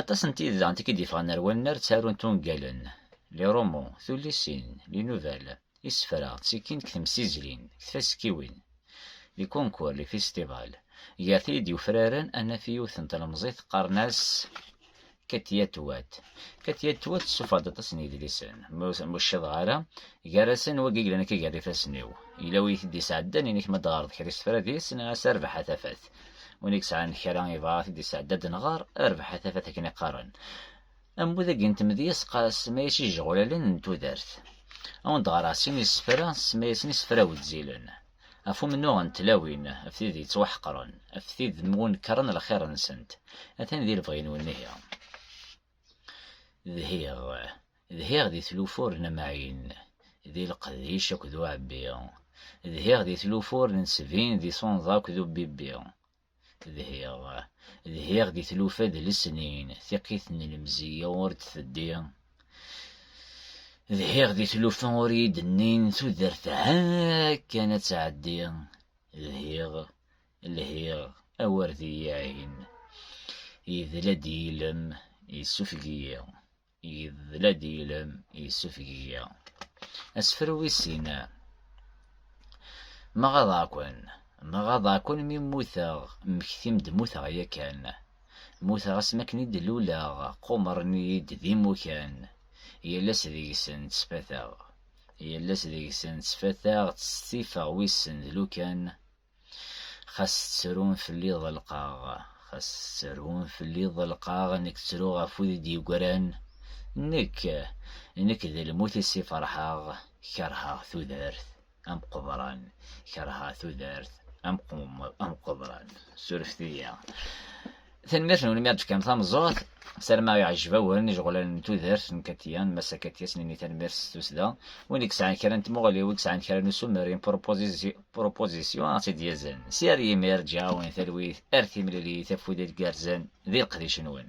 Aṭas n tid daɣen i d-yeffɣen ar wannar ttarunt ungalen, lirumu, tullisin, linubal, isefra, ttikin deg temsizlin, deg tfaskiwin, li concours, li festival. Gar tid yufraren ad naf yiwet n tlemẓit qqaren-as Katia Tuat. Katia Tuat tessufeɣ-d aṭas n yedlisen, ma ur ccaḍeɣ ara, gar-asen wagi yellan akka gar ifassen-iw. Yella wi yi-t-id-yesɛeddan, ini-k ma d-tɣareḍ kra isefra deg-s, nniɣ-as a Rrbeḥ a tafat. win i yesɛan kra yebɣa ad t-id-yesɛedda ad nɣer, rrbeḥ a tafat akken i qqaren. Ammud-agi n tmedyeẓqa semma-yas ijeɣulalen n tudert. Ad awen-d-ɣreɣ sin isefra semma-yasen isefra wezzilen, ɣef umennuɣ n tlawin, ɣef tid yettwaḥeqren, ɣef tid mwunekkren lxir-nsent. Atan di lebɣi-nwen ihi. Dhiɣ, dhiɣ di tlufur n Amɛin, di Leqdic akked Uɛebbi, dhiɣ di tlufur n Sebin di Sunḍa akked Ubibbi, dhiɣ, dhiɣ di tlufa d lesnin, tiqqit n lemzeyya ur d-teddi, dhiɣ di tlufa ur iyi-d-nnin tudert ha kan ad tɛeddi, dhiɣ, Lhiɣ, awer d iyi-iɛin. Yedla-d yilem, yessufeg-iyi. Yedla-d yilem, yessufeg-iyi. Asefru wis sin. Ma ɣaḍeɣ-ken, ma ɣaḍeɣ-ken mi mmuteɣ, mmektim-d mmuteɣ yakan. Mmuteɣ asmi akken i d-luleɣ, qumren-iyi-d d imukan. Yal ass deg-sen ttfateɣ. Yal ass deg-sen ttfateɣ, ttsetifeɣ wissen d lukan. Xas tettrun fell-i ḍelqeɣ, xas tettrun fell-i ḍelqeɣ, nekk ttruɣ ɣef wid i d-yegran, nekk, nekk d lmut-is i ferḥeɣ, kerheɣ tudert am qeḍran, kerheɣ tudert am qeḍran. Surfet-iyi. Tanemmirt-nwen mi aɣ-d-tefkam tameẓẓuɣt. Sarma iɛejjeb-awen ijeɣlal n tudert n Katiya, n Massa Katiya, snin-nni tanemmirt s tussda. Win i yesɛan kra n tmuɣli, win yesɛan kra n ussumer, yn proposition, ad ɣ-tt-id-yazen. Si ar yimir, ǧǧiɣ-awen talwit ar timlilit, afud i tgerrzen di leqdic-nwen.